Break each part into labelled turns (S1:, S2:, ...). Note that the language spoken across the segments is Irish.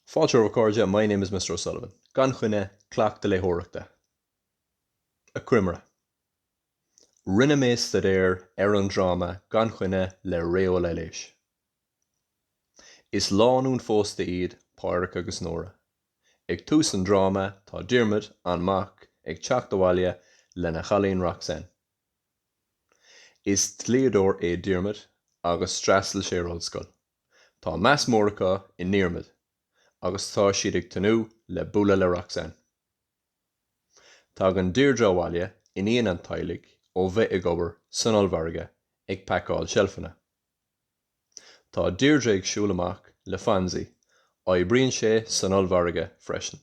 S1: Fáilte romhaibh a chairde, my name is Mr O'Sullivan. Gan choinne, cleachtadh léitheoireachta. Achoimre. Rinne mé staidéar ar an dráma Gan choinne le Ré Ó Laighléis. Is lánúin phósta iad Pádraic agus Nóra. Ag tús an dráma tá Diarmuid, an mac, ag teacht abhaile lena chailín Roxanne. Is dlíodóir é Diarmuid agus d'fhreastail sé ar ollscoil. Tá meas mór acu i nDiarmuid agus tá siad ag tnúth le bualadh le Roxanne. Tagann Deirdre abhaile, iníon an teaghlaigh, ó bheith ag obair san ollmhargadh ag pacáil seilfeanna. Tá Deirdre ag siúl amach le Fonzie, oibríonn sé san ollmhargadh freisin.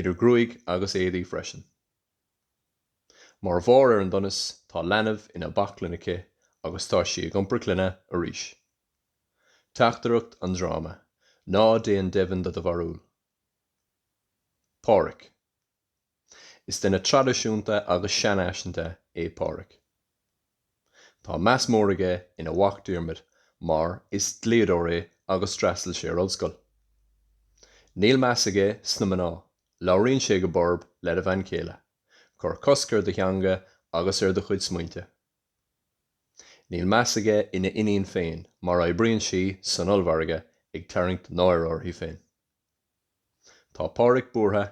S1: idir ghruaig agus éadaí freisin. Mar bharr ar an donas, tá leanbh ina baclainn aici agus tá sí ag iompar clainne arís. Teachtaireacht an dráma, ná déan deimhin de do bharúil. Pádraic. Is duine traidisiúnta agus seanfhaiseanta é Pádraic. Tá meas mór aige ina mhac Diarmuid mar is dlíodóir é agus d'fhreastail sé ar ollscoil. Níl meas aige sna mná, labhraíonn sé go borb lena bhean chéile, cuir cosc ar do theanga agus ar do chuid smaointe. Níl meas aige ina iníon féin mar oibríonn sí san ollmhargadh ag tarraingt náire orthu féin. Tá Pádraic buartha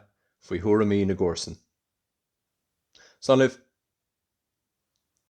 S1: faoi thuairimí na gcomharsan. Slán libh!